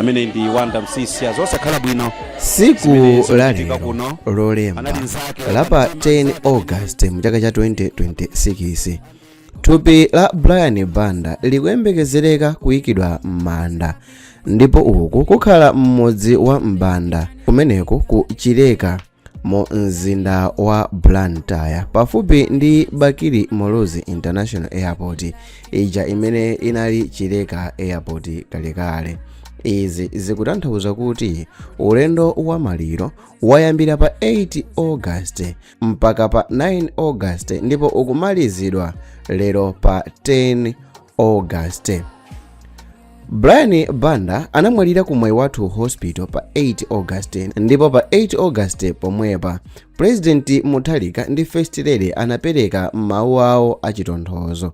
amene ndi wanda msisi azosakhala bwino siku lalero lolemba la pa 10 august mu chaka cha 2026 thupi la brian banda likuyembekezereka kuyikidwa m'manda ndipo uku kukhala mmudzi wa mbanda kumeneko ku chileka mu mzinda wa blantyre pafupi ndi bakili muluzi international airport ija imene inali chileka airport kalekale izi zikutanthauza kuti ulendo wa maliro wayambira pa 8 august mpaka pa 9 august ndipo ukumalizidwa lero pa 10 august brian banda anamwalira ku mwayi wathu hospital pa 8 august ndipo pa 8 august pomwepa pulezidenti mutharika ndi first lady anapereka mawu awo achitonthozo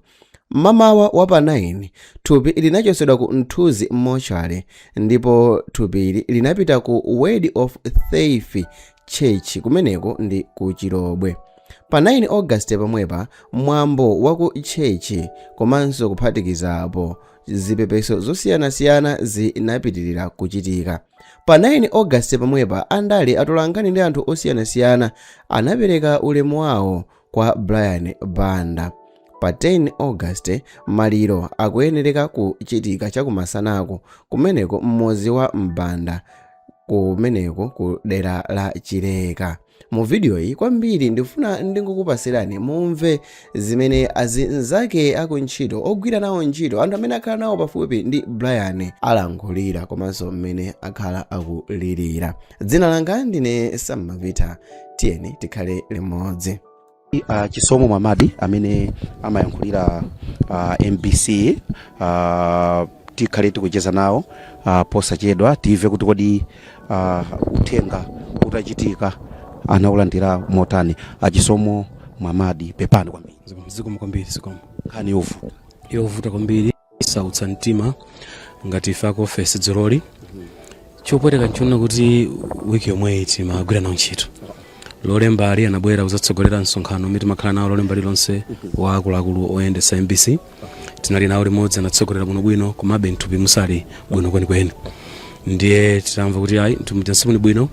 mmamawa wa pa 9 thupi linachotsedwa ku mthunzi mortuary ndipo thupili linapita ku word of faith church kumeneko ndi ku chilobwe pa 9 august pomwepa mwambo wa ku church komanso kuphatikizapo zipepeso zosiyanasiyana zinapitirira kuchitika pa 9 august pomwepa andale atolankhani ndi anthu osiyanasiyana anapereka ulemu wawo kwa brian banda pa 10 august maliro akuyenereka kuchitika chakumasanako kumeneko mmudzi wa mbanda kumeneko ku dera la chileka mu vidiyoyi kwambiri ndifuna ndingokupatsirani mumve zimene azinzake akuntchito ogwira nawo ntchito anthu amene akhala nawo pafupi ndi brian alankhulira komanso mmene akhala akulirira dzina langa ndine sammavita tiyeni tikhale limodzi a chisomo mwamadi amene amayankhulira uh, mbc uh, tikhale tikucheza nawo uh, posachedwa timve kuti kodi uh, uthenga utachitika anaulandira motani a chisomo mwamadi pepani kwambiri zikomo kwambiri zikomo nkhani yovuta yovuta kwambiri yosautsa mtima ngati ife aku ofesi dzuloli chopweteka nchonena kuti wiki yomweyi timagwira nawo ntchito lolembali anabwera kuzatsogolera msonkhano umene timakhala nawo lolemba lilonse wa akuluakulu oyendetsa mbc tinali nawo limodzi anatsogolera bwinobwino komabe mthupi musali bwino kwenikweni ndiye titamva kuti ayi mthupi muja simuli bwino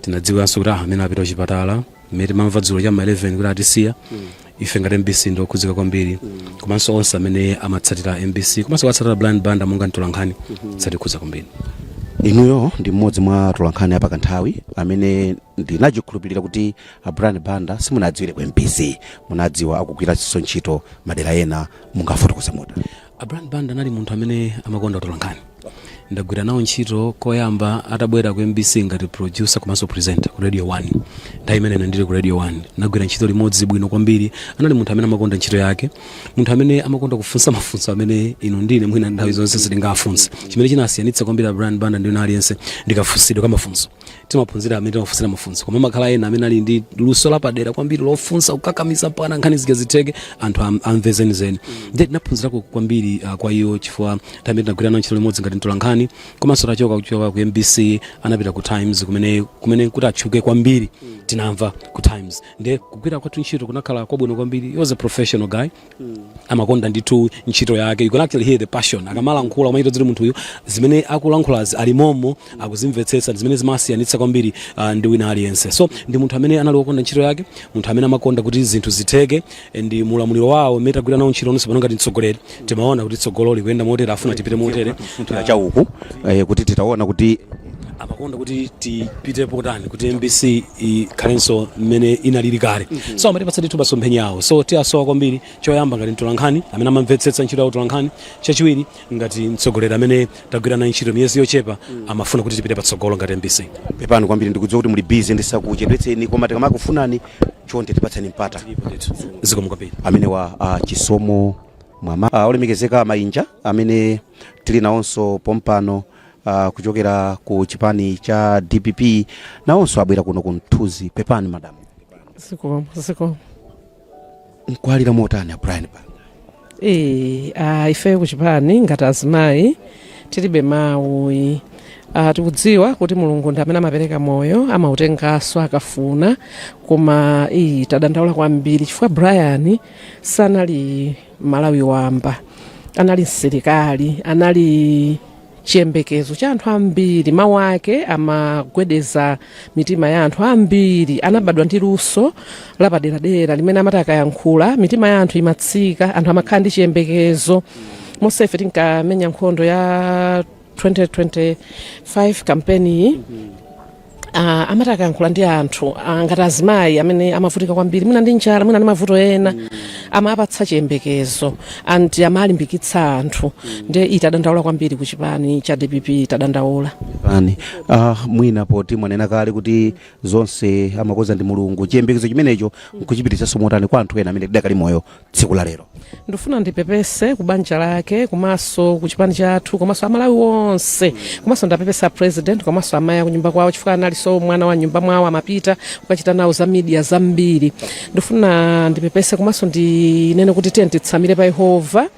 tinadziwanso kuti ah amene apita kuchipatala mmene timamva dzulo cha ma 11 kuti atisiya ife ngati mbc ndi okhudzika kwambiri komanso onse amene amatsatira mbc komanso kuwatsatira brian banda monga mtolankhani zatikhudza kwambiri inuyo ndi mmodzi mwa atolankhani apakanthawi amene ndinachikhulupirira kuti a brian banda simunadziwire ku mbc munawadziwa akugwiranso ntchito madera ena mungafotokoze muda A Brian Banda anali munthu amene amakonda utolankhani. Ndagwira nawo ntchito koyamba atabwera ku MBC ngati producer komanso presenter ku Radio 1. Nthawi imene ine ndili ku Radio 1 nagwira ntchito limodzi bwino kwambiri. Anali munthu amene amakonda ntchito yake, munthu amene amakonda kufunsa mafunso amene inu ndine mwina nthawi zonse sitingafunse. Chimene chinasiyanitsa kwambiri a Brian Banda ndi ena aliyense ndi kafunsidwe ka mafunso. timaphunzira amene timafunsira mafunso koma amakhala ena amene ali ndi luso lapadera kwambiri lofunsa kukakamiza mpaka nkhani zija zitheke anthu am- amve zenizeni nde tinaphunzirako kwambiri uh, kwa iwo chifukwa tamene tinagwira nawo ntchito limodzi ngati mtolankhani komanso atachoka kuchoka ku mbc anapita ku times kumene kumene kuti atchuke kwambiri tinamva ku times nde kugwira kwathu ntchito kunakhala kwabwino kwambiri he was a professional guy amakonda ndithu ntchito yake you can actually hear the passion akamalankhula umachita kuti munthu uyu zimene akulankhulazi ali momo akuzimvetsetsa zimene zimasiyanitsa kwambiri uh, ndi wina aliyense so ndi munthu amene anali wokonda ntchito yake munthu amene amakonda kuti zinthu zitheke ndi mulamuliro wawo mmene tagwira nawo ntchito tonse pano ngati mtsogoleri timaona kuti tsogolo likuyenda motere afuna tipite motere Tipita cha uku eh, kuti titaona kuti amakonda kuti tipite potani kuti mbc ikhalenso mmene inalili kale so amatipatsa ndithu masomphenya awo so tiasowa kwambiri choyamba ngati mtolankhani amene amamvetsetsa ntchito ya utolankhani chachiwiri ngati mtsogoleri amene tagwira naye ntchito miyezi yochepa amafuna kuti tipite patsogolo ngati mbc pepani kwambiri ndikudziwa kuti muli busy ndisakuchedwetseni koma tikamakufunani chonde tipatseni mpata zikomo kwambiri amenewa uh, chisomo mwama uh, olemekezeka mainja amene tili nawonso pompano uh, kuchokera ku chipani cha dpp nawonso abwera kuno ku mthunzi pepani madamu zikomo zikomo mukuwalira motani a brian banda Eh, ah, ife kuchipani ngati azimayi tilibe mawu yi. Ah, tikudziwa kuti mulungu ndi amene amapereka moyo amautenganso akafuna koma iyi tadandaula kwambiri chifukwa brian sanali mmalawi wamba anali msilikali anali chiyembekezo cha anthu ambiri mawu ake amagwedeza mitima ya anthu ambiri anabadwa ndi luso lapaderadera limene amati akayankhula mitima ya anthu imatsika anthu amakhala ndi chiyembekezo monse ife tinkamenya nkhondo ya 2025 kampeni iyi Ah, amati akayankhula ndi anthu ah, ngati azimayi amene amavutika kwambiri mwina ndi njala mwina ndi mavuto ena amapatsa chiyembekezo and amalimbikitsa anthu nde ii tadandaula kwambiri ku chipani cha dpp tadandaula pepani ah, mwina poti mwanena kale kuti zonse amakoza ndi mulungu chiyembekezo chimenecho nkuchipititsanso motani kwa anthu ena amene tidakali moyo tsiku la lero ndifuna ndipepese kubanja lake komanso kuchipani chathu komanso amalawi onse komanso ndiwapepese president komanso amayi akunyumba kwawo chifukwa analinso mwana wa nyumba mwawo amapita kukachita nawo za media zambiri ndifuna ndipepese komanso ndinene kuti tiyeni titsamire pa yehova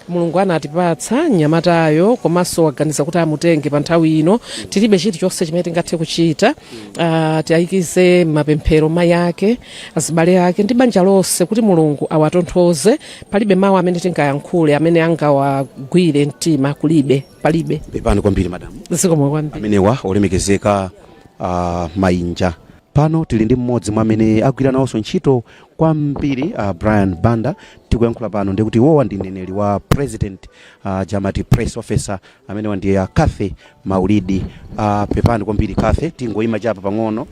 mulungu anatipatsa mnyamatayo komanso waganiza kuti amutenge pa nthawi ino tilibe chilichonse chimene tingathe kuchita uh, tiayikize m'mapemphero mayi ake azibale ake ndi banja lonse kuti mulungu awatonthoze palibe mawu amene tingayankhule amene angawagwire mtima kulibe palibe pepani kwambiri madamu zikomo kwambiri amenewa ndi olemekezeka uh, mainja pano tili ndi mmodzi mwa amene agwira nawonso ntchito kwambiri Brian Banda tikuyankhula pano ndikuti iwowa ndi mneneri wa president uh, jamati press officer amenewa ndi a Cathy Maulidi uh, pepani kwambiri Cathy tingoyima chapapa pang'ono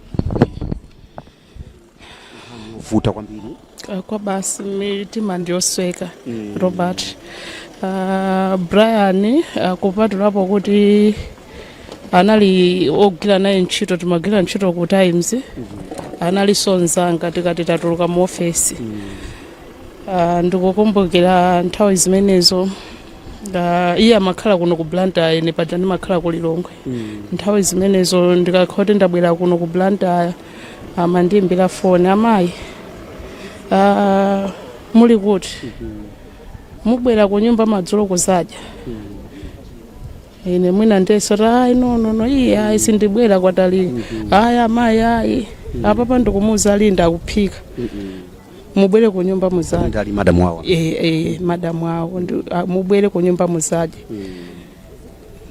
vuta kwambiri Ah, basi mitima ndiyosweka robert Ah, brian ah, kupatulapo kuti anali ogwira naye ntchito timagwira ntchito ku times analinso mzanga tikati tatuluka mu ofesi Ah, ndikukumbukira nthawi zimenezo ah, iye amakhala kuno ku blantyre ine paja ndimakhala ku lilongwe nthawi zimenezo ndikakhala kuti ndabwera kuno ku blantyre amandiimbira foni amayi ah, muli kuti mubwera ku nyumba madzulo kudzadya ine mwina ndesota ayi nonono iye ayi sindibwera kwatali ayi amayi ayi apapa ndikumuuza linda akuphika mubwere ku nyumba muzadye linda ali madamu awo Eh, eh, madamu awo ndi- ah, mubwere ku nyumba muzadye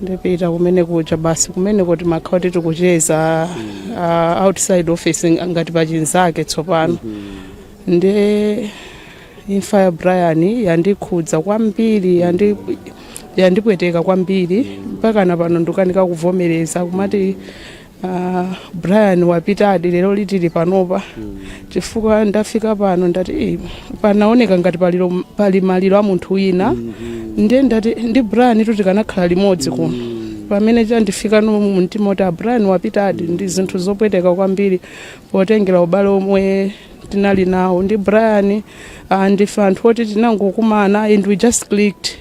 ndipita kumene kuja basi kumene timakhala kuti tikucheza ah, outside office ngati pachinzake tsopano ndi Imfa ya Brian yandikhudza kwambiri yandi yandipweteka kwambiri mpaka na pano ndikukanika kuvomereza kumati uh, Brian wapitadi lero litili panopa chifukwa ndafika pano ndati "Eh, panaoneka ngati palilo, pali maliro a munthu wina ndiye ndati ndi Brian tu tikanakhala limodzi kuno pamene chandifikano mu mtima kuti a Brian wapitadi ndi zinthu zopweteka kwambiri potengera ubale omwe tinali nawo ndi brian ah, ndife anthu oti tinangokumana and we just clicked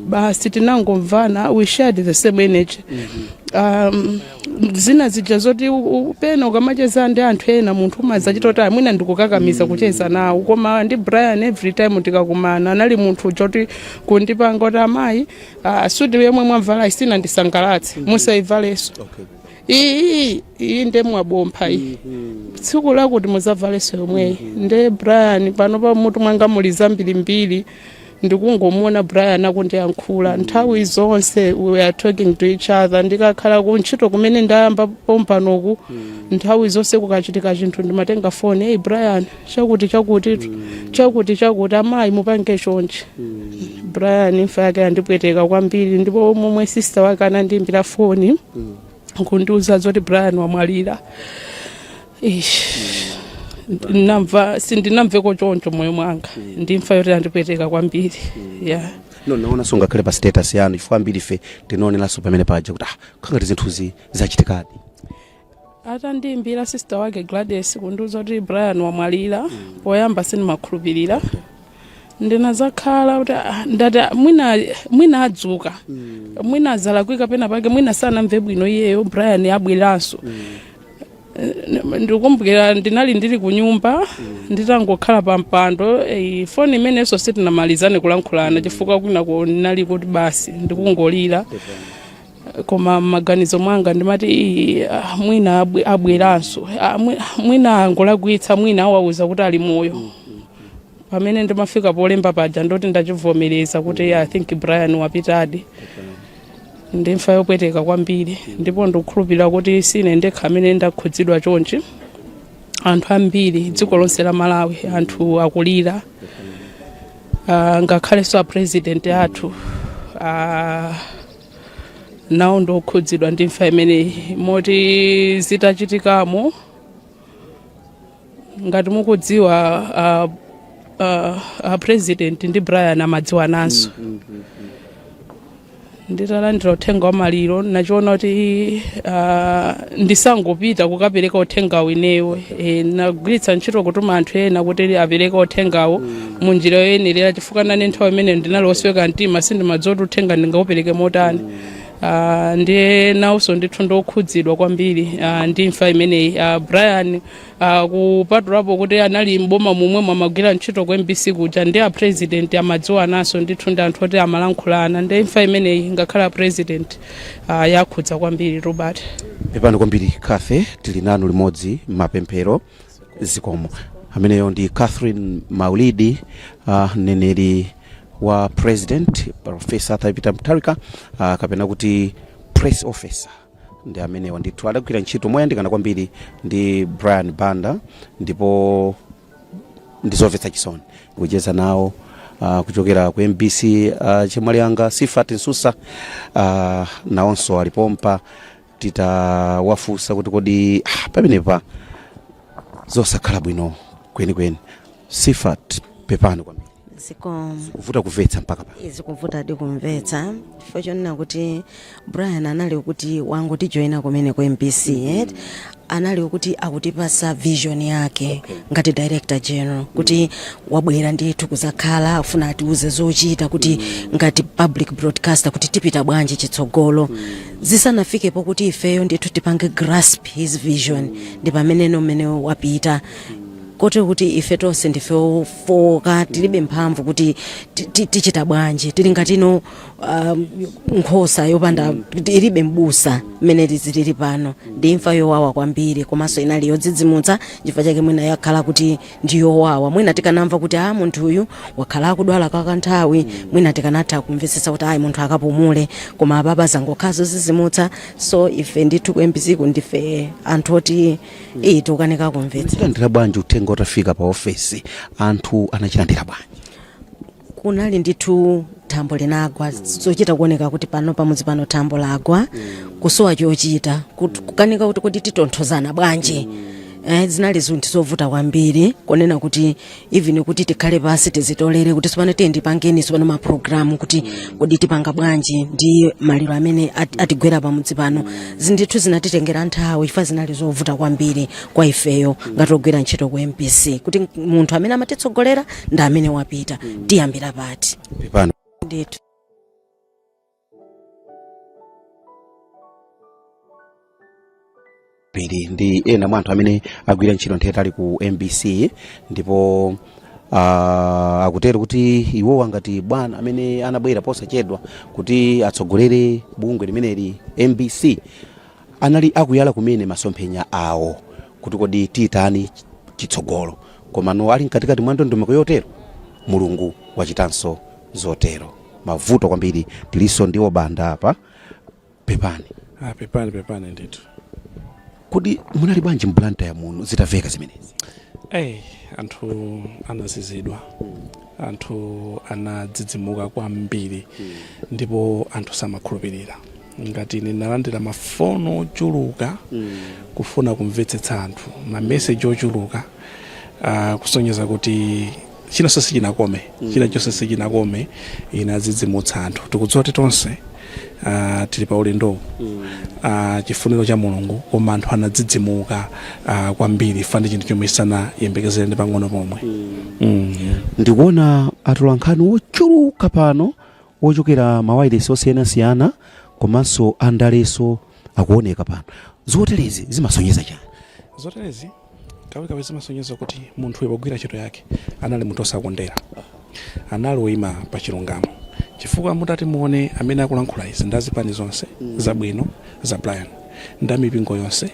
basi tinangomvana we shared the same energy um, zina zija zoti u- u- pena ukamacheza ndi anthu ena munthu umazachita kuti ah mwina ndikukakamiza kucheza nawo koma ndi brian every time tikakumana anali munthu uja kuti kundipanga kuti amayi ah, suti yomwe mwavalayi sinandisangalatse musaivalenso iyi iyi nde mwabompha iyi tsiku lakuti muzavaleso yomweyi nde brian panopa mmutu mwanga muli zambirimbiri ndikungomuona brian akundiyankhula nthawi zonse we are talking to each other ndikakhala ku ntchito kumene ndayamba pompanoku nthawi zonse kukachitika chinthu ndimatenga foni eyi brian chakuti chakuti chakuti chakuti amayi mupange chonchi brian imfa yake yandipweteka kwambiri ndipo momwe sista wake anandiimbira foni kundiuza zoti brian wamwalira Ish. Ndinamva- sindinamveko choncho moyo mwanga ndimfa yoti yandipweteka kwambiri yeah. no naonanso ngakhale pa status yanu chifukwa ambiri ife tinaoneranso pamene paja kuti ah nkhangati zinthuzi zachitikadi atandiimbira sister wake gladys kundiuza kuti brian wamwalira poyamba sindimakhulupirira ndinazakhala kuti ah, ndati ah, mwina mwina adzuka mwina zalakwika pena pake mwina sanamve bwino iyeyo brian abweranso Eh, ndikumbukira ndinali ndili ku nyumba nditangokhala pa mpando eh, foni imeneyonso sitinamalizane kulankhulana chifukwa kwinako ndinali kuti basi ndikungolira koma m'maganizo mwanga ndimati "Ii, ah, mwina abwe- abweranso Ah, mwi- mwina angolakwitsa mwina awauza kuti ali moyo pamene ndimafika polemba paja ndoti ndachivomereza kuti "Yeah, i think brian wapitadi ndi imfa yopweteka kwambiri ndipo ndikukhulupirira kuti sine ndekha amene ndakhudzidwa chonchi anthu ambiri dziko lonse la malawi anthu akulira Ah, ngakhalenso a president athu ah, nawo ndi okhudzidwa ndi imfa imeneyi moti zitachitikamo ngati mukudziwa a, a, a president ndi brian amadziwananso nditalandira uthenga wa maliro ndinachiona kuti ah, ndisangopita kukapereka uthengawo ineyo e, ndinagwiritsa ntchito kutuma anthu ena kuti apereke uthengawo mu njira yoyenerera chifukwa nane nthawi imeneyo ndinali wosweka mtima sindimadziwa kuti uthenga ndingaupereke motani Ah, ndiye nawonso ndithu ndokhudzidwa kwambiri ah, ndi imfa imeneyi Ah, brian ah, kupatulapo kuti anali mboma momwe amagwira ntchito ku mbc kuja ndi apresident amadziwananso ndithu ndi anthu oti amalankhulana ndi imfa imeneyi ngakhale apresident ah, yawakhudza kwambiri robert pepani kwambiri kathe tili nanu limodzi m'mapemphero zikomo ameneyo ndi catherine maulidi uh, mneneri wa president profesa arthur peter mutharika uh, kapena kuti press officer ndi amenewa ndithu adagwira ntchito moyandikana kwambiri ndi brian banda ndipo ndizomvetsa chisoni kucheza nawo uh, kuchokera ku mbc uh, chemwali anga sifat nsusa uh, nawonso ali pompa titawafunsa kuti kodi ah, pamenepa zosakhala bwino kwenikweni sifat pepani kwambiri zikomo kuvuta kumvetsa mpaka pa izi kuvutadi kumvetsa chifukwa chonena kuti brian anali kuti wangotijoyina kumene ku mbc et anali okuti akutipasa vision yake okay. ngati director general kuti mm. wabwera ndithu kuzakhala afuna atiuze zochita kuti mm. ngati public broadcaster kuti tipita bwanji chitsogolo mm. zisanafike pokuti ifeyo ndithu tipange grasp his vision mm. ndi pamene nomene wapita mm kote kuti ife tonse ndife ofoka tilibe mphamvu kuti tichita bwanji tili ngatino um, nkhosa yopanda ilibe mbusa mmene tizilili pano ndi imfa yowawa kwambiri komanso inali yodzidzimutsa chifukwa chake mwina yakhala kuti ndi yowawa mwina tikanamva kuti a munthu uyu wakhala akudwala kwa kanthawi mwina tikanatha kumvetsetsa kuti ayi munthu akapumule koma apapa zangokhala zodzidzimutsa so ife ndithu ku mbc ndife anthu oti iyi tikukanika kumvetsa munalandira bwanji uthenga utafika pa ofesi anthu anaulandira bwanji kunali ndithu thambo linagwa zochita kuoneka kuti pano pamudzi pano thambo lagwa kusowa chochita kut- kukanika kuti kodi titonthozana bwanji Eh, zinali zinthu zovuta kwambiri kunena kuti even kuti tikhale pansi tizitolere kuti tsopano tiyeni tipangeni tsopano maprogramu kuti kodi tipanga bwanji ndi maliro amene at- atigwera pamudzi pano ndithu zinatitengera nthawi chifukwa zinali zovuta kwambiri kwa ifeyo ngati ogwira ntchito ku mbc kuti munthu amene amatitsogolera ndi amene wapita tiyambira pati pepani ndithu phiri ndi ena mwa anthu amene agwira ntchito nthawi yaitali ku mbc ndipo uh, akutero kuti iwowa ngati bwana amene anabwera posachedwa kuti atsogolere bungwe limeneli mbc anali akuyala kumene masomphenya awo kuti kodi titani chitsogolo komano ali mkatikati mwa ndondomeko yotero mulungu wachitanso zotero mavuto kwambiri tilinso ndi a banda apa pepani Ah, pepani pepani ndithu kodi munali bwanji m'blantyre muno zitaveka zimenezi Hey, anthu anazizidwa anthu anadzidzimuka kwambiri ndipo anthu samakhulupirira ngati ine ndinalandira mafoni ochuluka kufuna kumvetsetsa anthu mameseji ochuluka uh, kusonyeza kuti china chonse sichinakome china chonse sichinakome inadzidzimutsa anthu tikudziwa kuti tonse uh, tili pa ulendowu uh, chifuniro cha mulungu koma anthu anadzidzimuka uh, kwambiri chifukwa ndi chinthu chomwe sanayembekezere ndi pang'ono pomwe mm. ndikuona atolankhani ochuluka pano ochokera mawailesi osiyanasiyana komanso andaleso akuoneka pano zoterezi zimasonyeza chani zoterezi kawikawi zimasonyeza kuti munthuyo pogwira ntchito yake anali munthu osakondera anali oyima pa chilungamo chifukwa mutati muone amene akulankhula izi ndi azipani zonse zabwino za brian ndi amipingo yonse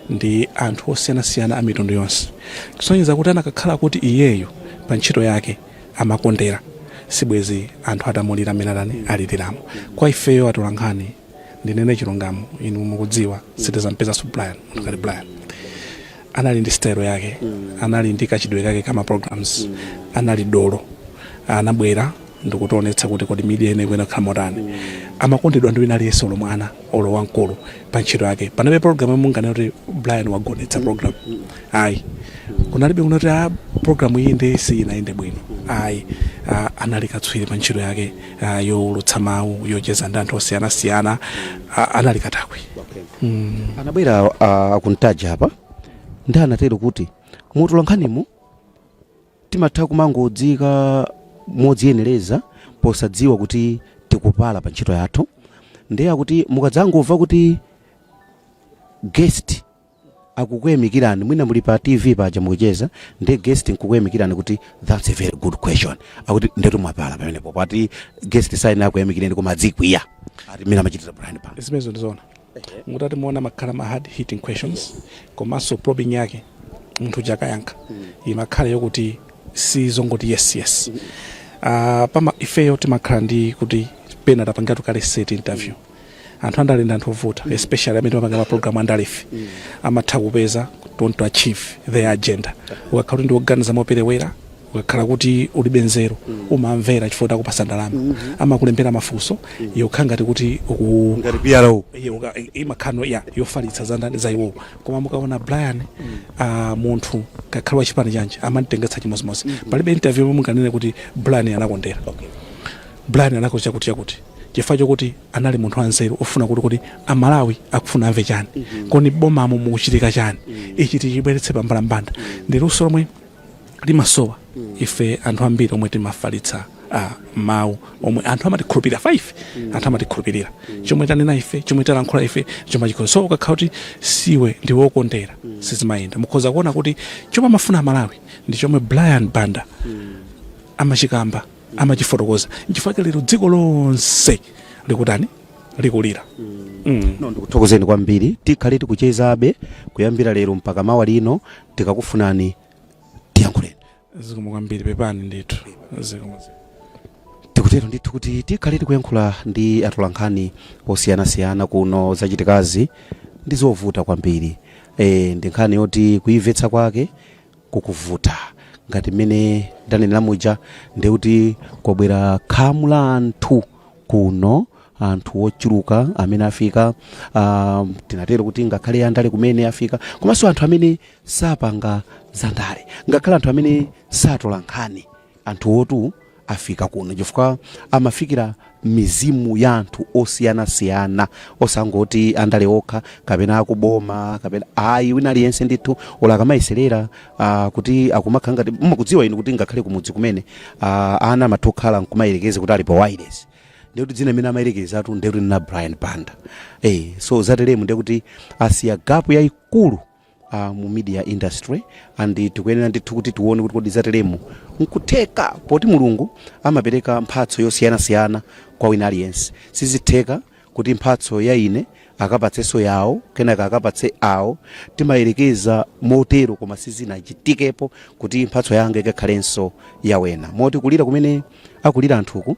ndi anthu osiyanasiyana a mitundu yonse kusonyeza kuti anakakhala kuti iyeyo pa ntchito yake amakondera sibwezi anthu atamulira mmene atani aliliramo kwa ifeyo atolankhani ndinene chilungamo inu mukudziwa sitizampezanso brian munthu ngati brian anali ndi style yake anali ndi kachitidwe kake kama programs anali dolo anabwera ndikutionetsa kuti kodi media ine ikuyenera kukhala motani amakondedwa ndi wina aliyense olo mwana olo wamkulu pa ntchito yake panalibe program yomwe munganene kuti brian wagonetsa program ayi kunalibe kunena kuti a programu iyi nde siyinayende bwino ayi ah, anali katswiri pa ntchito yake ah, yowulutsa mawu yocheza ndi anthu osiyanasiyana ah, anali katakwe mm. anabwera uh, akuntaja apa ndi anatero kuti mutolankhanimu timatha kumangodziika modziyenereza posadziwa kuti tikupala pa ntchito yathu ndiye akuti mukadzangomva kuti guest akukuyamikirani mwina muli pa tv paja mukucheza ndi guest nkukuyamikirani kuti thats a very good question akuti ndetu mwapala pamenepo ati guest sayenera akuyamikireni koma adzikwiya ngati mmene amachitira brian banda zimenezo ndizoona mutati muona amakhala ma hard hitting questions komanso probing yake munthu uja akayankha imakhala yokuti si zongoti yes yes Ah, pomwe ifeyo timakhala ndi kuti pena tapangiratu kale set interview anthu andale ndi anthu ovuta mm. especially amene timapanga maprogramu andalefe mm. amatha kupeza to achieve their agenda ukakhala kuti ndioganiza moperewera ukakhala kuti ulibe nzeru mm. umamvera chifukwa akupasa ndalama mm-hmm. amakulembera mafunso mm. yokhala ngati kuti imakhalano ya yofalitsa zandani za iwowo koma mukaona brian uh, munthu akakhala wa chipani chanji amamutengetsa chimodzimodzi mm-hmm. palibe interview yomwe munganene kuti brian anakondera okay. Brian anakhoza chakuti chakuti chifukwa chokuti anali munthu wanzeru ofuna kuti kodi amalawi akufuna amve chani mm -hmm. kodi m'bomamu mukuchitika chani mm -hmm. ichi tichibweretse pambalambanda mm -hmm. ndi luso lomwe limasowa mm -hmm. ife anthu ambiri omwe timafalitsa uh, mawu omwe anthu amatikhulupirira ife mm. anthu amatikhulupirira mm. chomwe tanena ife chomwe talankhula ife chomwe chikhoza so ukakhala kuti siwe ndiwe wokondera mm. sizimayenda mukhoza kuona kuti chomwe amafuna amalawi ndi chomwe brian banda mm. amachikamba amachifotokoza nchifukwa chake lero dziko lonse likutani likulira mm. no ndikuthokozeni kwambiri tikhale tikuchezabe kuyambira lero mpaka mawa lino tikakufunani tiyankhuleni zikomo kwambiri pepani ndithu zikomo tikutero ndithu kuti tikhale tikuyankhula ndi atolankhani osiyanasiyana kuno zachitikazi ndi zovuta kwambiri e, ndi nkhani yoti kuimvetsa kwake kukuvuta. Ngati mmene ndanenera muja, ndiye kuti kwabwera khamu la anthu kuno, anthu ochuluka amene afika, ah, tinatero kuti ngakhale andale kumene afika, komanso anthu amene sapanga zandale, ngakhale anthu amene satola nkhani. Anthuwotu afika kuno chifukwa amafikira mizimu ya anthu osiyanasiyana osangoti andale okha kapena akuboma kapena ayi wina aliyense ndithu olo akamayeserera ah, kuti akumakhala ngati mukudziwa inu kuti ngakhale kumudzi kumene ah, ana amatha kukhala nkumayerekeza kuti ali pa wireless ndekuti dzina imene amayerekezatu ndekuti ndi a brian banda eh, so zateremu ndekuti asiya gapu yayikulu a mu media industry and tikuyenera ndithu kuti tione kuti kodi zateremu nkutheka poti mulungu amapereka mphatso yosiyanasiyana kwa wina aliyense sizitheka kuti mphatso ya ine akapatsenso yawo kenaka akapatse awo timayerekeza motero koma sizinachitikepo kuti mphatso yanga ikakhalenso yawena moti kulira kumene akulira anthuku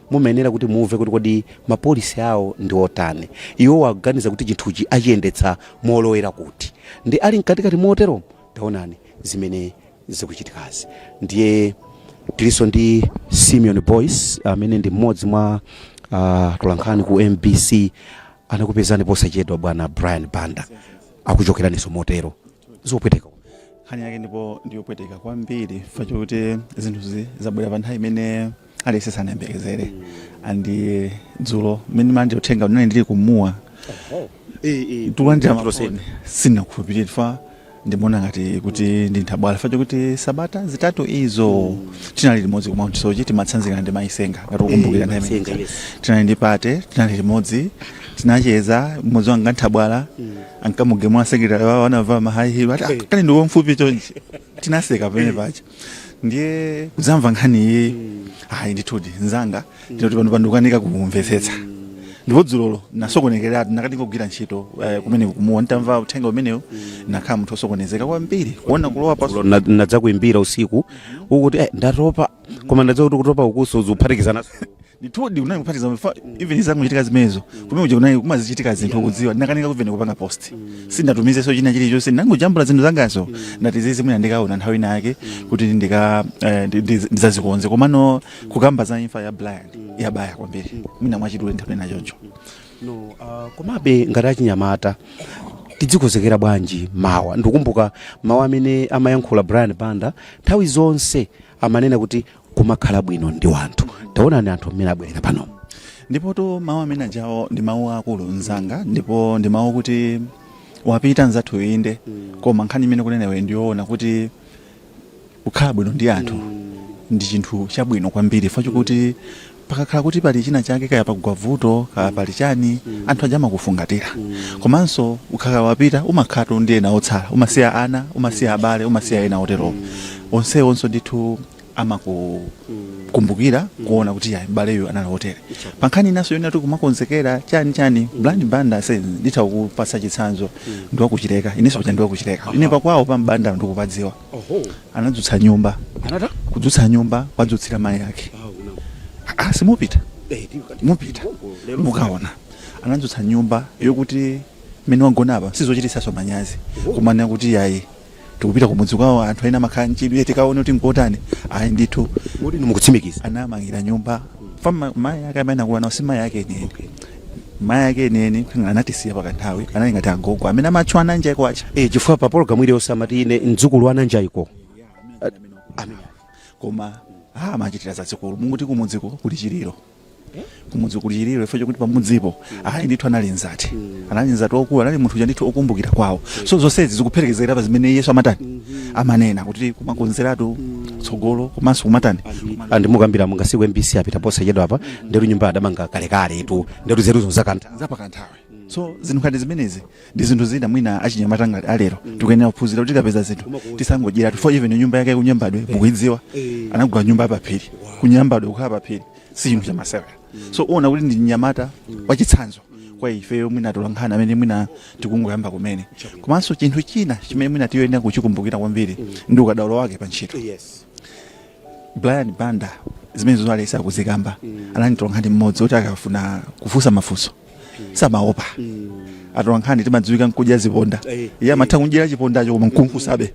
Mumayenera kuti mumve kuti kodi ma policy awo ndi otani. Iwowo akuganiza kuti chinthuchi achiyendetsa molowera kuti. Ndiye ali mkatikati moteromo taonani zimene zikuchitikazi. Ndiye tilinso ndi Simeon Boyce amene ndi mmodzi mwa atolankhani ku mbc. Anakupezani posachedwa bwana Brian Banda. Akuchokeraninso motero. Zopweteka. Nkhani yake ndipo ndi yopweteka kwambiri chifukwa chokuti zinthuzi zabwera pa nthawi imene. aliyense sanayembekezere and eh, dzulo mmene manje uthenga umenewu ndili ku Mua nditalandira mafoni sindinakhulupirire fa ndimaona ngati kuti ndi nthabwala fa chokuti sabata zitatu izo tinali limodzi ku mount soche timatsanzikana ndi mayi Senga ngati ukumbukira nthawi imene Mayi Senga, yes. tinali ndi party tinali limodzi tinacheza mmodzi wanga nthabwala ankamugemula secretary wawo anavula ma high heel ati "Ah, kani ndiwe wamfupi chonchi tinaseka pamene paja ndiye kudzamva nkhani iyi ayi ndithudi nzanga ndingoti panopa ndikukanika kumvetsetsa ndipo dzulolo nasokonekereratu nakanika kugwira ntchito eh, kumene ku Mua nditamva uthenga umenewu nakhala munthu osokonezeka kwambiri kuona kulowa pa Lo- na- nadzakuimbira usiku ukuti eh, ndatopa koma ndadziwa kuti kutopa ukunso zikuphatikizana ndithudi kunali kuphatikiza for even izangochitika zimenezo kumene kuja kunali kumazichitika zinthu kudziwa ndinakanika for even kupanga post sindatumizeso china chilichonse ndangojambula zinthu zangazo ndati zizi mwina ndikaona nthawi ina yake kuti ndika eh, ndi- ndi- ndidzazikonze komano kukamba za imfa ya Brian yabaya kwambiri mwina mwachidule nthawi ina choncho no uh, komabe ngati achinyamata tidzikonzekera bwanji mawa ndikumbuka mawu amene amayankhula Brian Banda nthawi zonse amanena kuti kumakhala bwino ndi wanthu taonani anthu mmene abwerera pano ndipotu mawu amene ajawo ndi mawu akulu mzanga ndipo ndi mawu kuti wapita mzathu inde koma nkhani imene akunenawo ndiyoona kuti kukhala bwino ndi anthu ndi chinthu chabwino kwambiri chifukwa chokuti Pakakhala kuti pali china chake kaya pagwa vuto kaya pali chani anthu aja amakufungatira komanso ukakhala wapita umakhalatu ndi ena otsala umasiya ana umasiya abale umasiya ena oterowo onsewonso ndithu amakukumbukira kuona kuti ya m'baleyu anali wotere pa nkhani inanso yonena kuti kumakonzekera chani chani Brian Banda ase nditha kukupatsa chitsanzo ndi wa ku Chileka inenso paja ndi wa ku Chileka ine pakwawo pa Banda ndikupadziwa anadzutsa nyumba anata kudzutsa nyumba wadzutsira mayi ake Ah, simupita mutapita mukaona anadzutsa nyumba yokuti mmene wagona apa sizochititsaso manyazi kumanena kuti yayi tikupita kumudzi kwawo anthu ena amakhala mchidwe tikaone kuti nkotani ayi ndithu moti ndikukutsimikiza anamangira nyumba for mayi ake amene anakula nawo si mayi ake enieni mayi ake enieni paja anatisiya pakanthawi anali ngati agogo amene amatchwa a Nanjaiko aja Eh, chifukwa pa pologalamu iliyonse amati ine mdzukulu wa Nanjaiko koma ah, amachitira zazikulu moti kumudziko kuli chiliro kumudzi kuli chiliro chifukwa chokuti pamudzipo ayi ndithu anali mzati anali mzati waukulu anali munthu uja ndithu okumbukira kwawo so zonsezi zikuphelekezera pa zimene iyeyo amatani amanena kuti kumakonzeratu tsogolo komanso kumatani and mukambira Mungasiku MBC apita posachedwa apa ndiyetu nyumba adamanga kalekaletu ndiyetu zeruzo zakantha zapakanthawi so zinthu ngati zimenezi ndi zinthu zina mwina achinyamata ngati alero tikuyenera kuphunzira kuti tikapeza zinthu tisangodyeratu for even nyumba yake ku Nyambadwe mukuidziwa anagula nyumba yapaphiri ku Nyambadwe kukhala paphiri si chinthu chamasewera so uona kuti ndi mnyamata wachitsanzo kwa ifeyo mwina tolankhani amene mwina tikungoyamba kumene komanso chinthu china chimene mwina tiyenera kuchikumbukira kwambiri ndi ukadaulo wake pa ntchito yes Brian Banda zimene zosalesa kuzikamba mm. anali mtolankhani mmodzi oti akafuna kufunsa mafunso mm. samaopa mm. atolankhani timadziwika nkudya ziponda hey, eh, iye amatha hey. Eh. kudyera chipondacho koma nkumufunsabe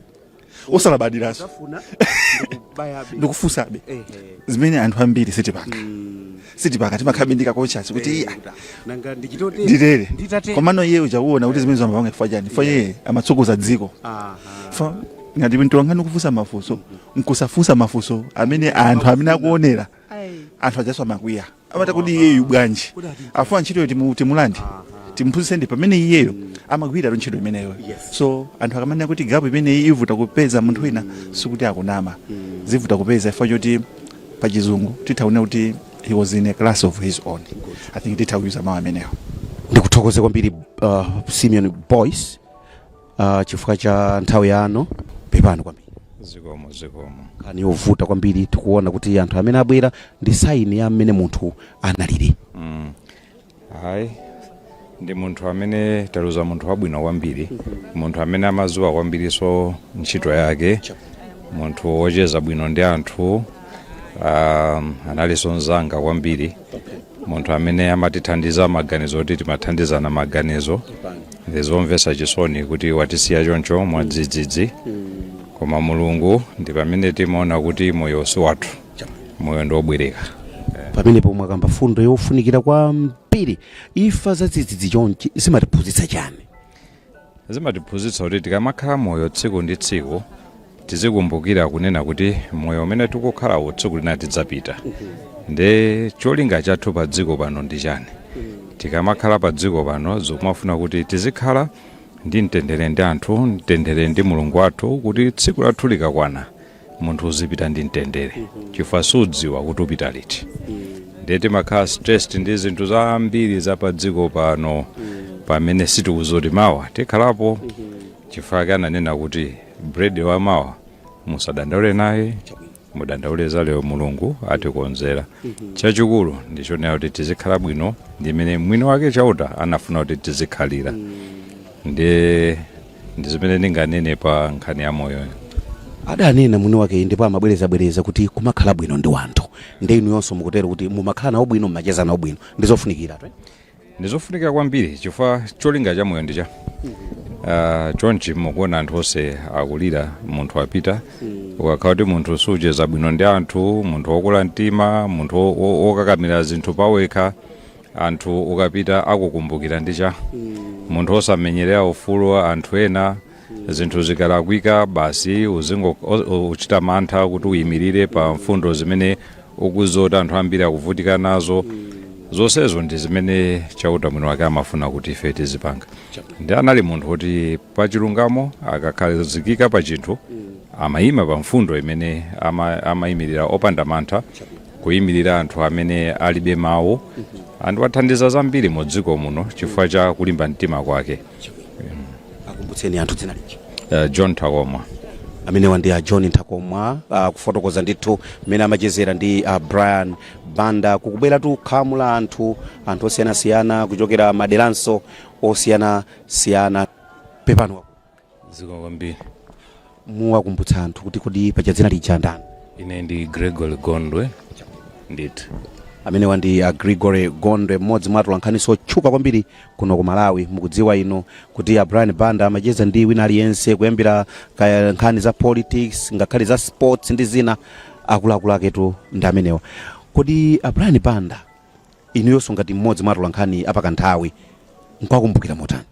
mm. osalabadiranso ndikufunsabe hey, eh, hey. zimene anthu ambiri sitipanga mm. sitipaka timakhala ndi ka kochasi kuti iya nanga ndichitote ndilere nditate komano iye uchakuona kuti zimene zamapanga chifukwa chani chifukwa iye amatsogoza dziko aha Fa- ngati mtolankhani kufunsa mafunso nkusafunsa mafunso amene anthu amene akuonera anthu ajaswa amakwiya amata kuti iyeyu bwanji afuna ntchitoyo timu- timulande timuphunzitse ndi pamene iyeyo amagwirira ntchito imeneyo Yes. so anthu akamanena kuti gapu imeneyi ivuta kupeza munthu wina sikuti akunama zivuta kupeza chifukwa choti pa chizungu titha kunena kuti he was in a class of his own i think titha kuyuza mawu amenewo ndikuthokoze kwambiri uh, simeon boys uh, chifukwa cha nthawi yanu pepani kwambiri zikomo zikomo nkhani yovuta kwambiri tikuona kuti anthu amene abwera ndi saini ya mmene munthu analili mm. hayi ndi munthu amene taluza munthu wabwino kwambiri munthu amene amadziwa kwambirinso ntchito yake munthu wocheza bwino ndi anthu um, analinso mzanga kwambiri munthu amene amatithandiza maganizo kuti timathandizana maganizo ndi zomvetsa chisoni kuti watisiya choncho mwadzidzidzi koma mulungu ndi pamene timaona kuti moyo si wathu moyo ndi wobwereka pamenepo mwakamba fundo yofunikira kwambiri ifa zadzidzidzi chonchi zimatiphunzitsa chani zimatiphunzitsa kuti tikamakhala moyo tsiku ndi tsiku tizikumbukira kunena kuti moyo umene tikukhalawo tsiku lina tidzapita nde cholinga chathu pa dziko pano ndi chani tikamakhala pa dziko pano zokumafuna kuti tizikhala ndi mtendere ndi anthu mtendere ndi mulungu wathu kuti tsiku lathu likakwana munthu uzipita ndi mtendere chifukwa sudziwa kuti upita liti ndiye timakhala stressed ndi zinthu zambiri za pa dziko pano pamene sitikudziwa kuti mawa tikhalapo chifukwa chake ananena kuti bread wa mawa musadandaule naye mudandaule za lero mulungu atikonzera chachikulu ndichonena kuti tizikhala bwino ndimene mwini wake chauta anafuna kuti tizikhalira ndiye ndi zimene ndinganene pa nkhani ya moyo adanena mwini wake iyi ndipo amabwerezabwereza kuti kumakhala bwino ndi wanthu nde inuyonso mukutero kuti mumakhala nawo bwino mumacheza nawo bwino ndi zofunikiratu ndizofunikira kwambiri chifukwa cholinga cha moyo ndicha uh, chonchi mukuona anthu onse akulira munthu wapita ukakhala kuti munthu sucheza bwino ndi anthu munthu wokula mtima munthu wo- wo- wokakamira zinthu pawekha anthu ukapita akukumbukira ndi chani munthu osamenyerera ufulu wa anthu ena zinthu zikalakwika basi uzingo o- o- uchita mantha kuti uyimirire pa mfundo zimene ukuziwa kuti anthu ambiri akuvutika nazo zonsezo ndi zimene chauta mwini wake amafuna kuti ife tizipanga nde anali munthu woti pa chilungamo akakhazikika pa chinthu amayima pa mfundo imene ama- amayimirira opanda mantha kuyimirira anthu amene alibe mawu ndi wathandiza zambiri mu dziko muno chifukwa cha kulimba mtima kwake akumbutseni anthu dzina lija John Nthakomwa amenewa ndi a John Nthakomwa uh, kufotokoza ndithu mmene amachezera ndi a Brian Banda kukubwera tu khamu la anthu anthu osiyanasiyana kuchokera maderanso osiyanasiyana pepano dziko kwambiri muwakumbutsa anthu kuti kodi paja dzina lija ndani ine ndi gregory gondwe ndithu amenewa ndi a gregory gondwe mmodzi mwa atolankhaniso otchuka kwambiri kuno ku malawi mukudziwa ino kuti a brian banda amacheza ndi wina aliyense kuyambira kaya nkhani za politics ngakhale za sports ndi zina akuluakulu aketu ndi amenewa kodi a brian banda inuyonso ngati mmodzi mwa atolankhani apakanthawi mukuwakumbukira motani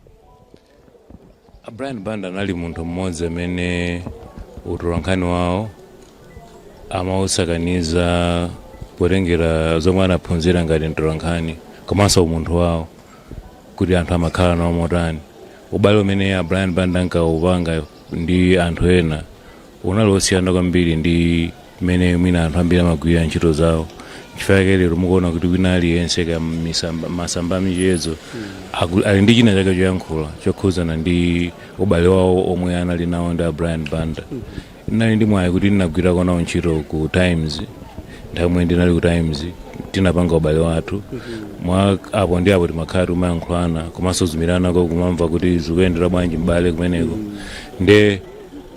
A Brian Banda anali munthu mmodzi amene utolankhani wawo amawusakaniza potengera zomwe anaphunzira ngati mtolankhani komanso umunthu wawo kuti anthu amakhala nawo motani ubale umene a Brian Banda ankawupanga ndi anthu ena unali wosiyana kwambiri ndi mmene mwina anthu ambiri amagwirira ntchito zawo chifukwa chake lero mukuona kuti wina aliyense ka misamba- masamba amichezo aku- ali ndi china chake choyankhula chokhudzana ndi ubale wawo omwe anali nawo ndi a brian banda ndinali ndi mwayi kuti ndinagwirako nawo ntchito ku times nthawi imene ndinali ku times tinapanga ubale wathu mwa apo ndi apo timakhala timayankhulana komanso kuimbiranako kumamva kuti zikuyendera bwanji m'bale kumeneko nde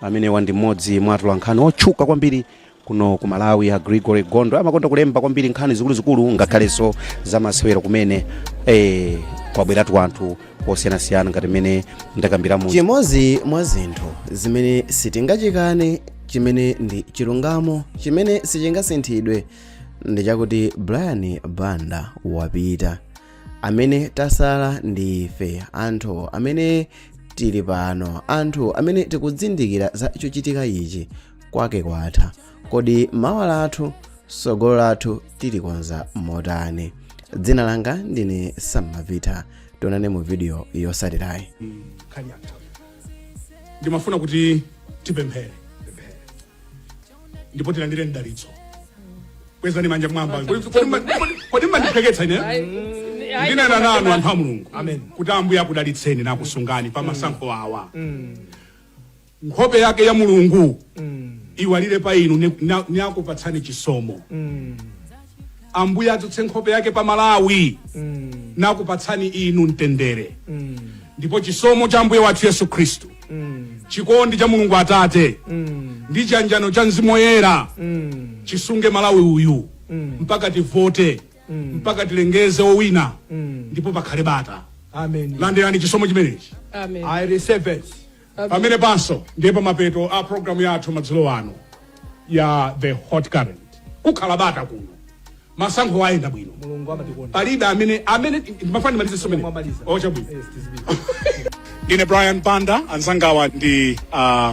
Amenewa ndi mmodzi mwa atolankhani otchuka kwambiri kuno ku Malawi a Gregory Gondwe amakonda kulemba kwambiri nkhani zikuluzikulu ngakhalenso zamasewero kumene eh, kwabweratu anthu osiyanasiyana ngati mmene ndakambiramu chimodzi mwa zinthu zimene sitingachikane chimene ndi chilungamo chimene sichingasinthidwe ndi chakuti brian banda wapita amene tasala ndi ife anthu amene tili pano anthu amene tikudzindikira za chochitika ichi kwake kwatha kodi mawa lathu sogolo lathu tilikonza motani dzina langa ndine sammavita tionane mu video yotsatirayi nkhani yathu ndimafuna kuti tipemphere ndipo tilandire mdalitso kwezani manja mwamba Kodi- kodi mma- kodi- kodi mmandiphweketsa ine ndinena nanu anthu a mulungu Amen. kuti ambuye akudalitseni nakusungani pa masankho awa nkhope yake ya mulungu iwalire pa inu ni- na- nakupatsani chisomo ambuye adzutse nkhope yake pa malawi mm. nakupatsani inu mtendere mm. ndipo chisomo cha ambuye wathu yesu khristu mm. chikondi cha mulungu atate mm. ndi chiyanjano cha mzimu woyera mm. chisunge malawi uyu mm. mpaka tivote mm. mpaka tilengeze owina mm. ndipo pakhale bata amen landirani chisomo chimenechi amen i receive it pamenepanso ndiye pamapeto a programu yathu madzulo ano ya the hot current kukhala bata kuno masankho ayenda bwino mulungu amatikonda palibe amene amene ndimafuna mumalize momwe mwamaliza ocha bwino yes tizibiri ndine brian banda anzangawa ndi uh,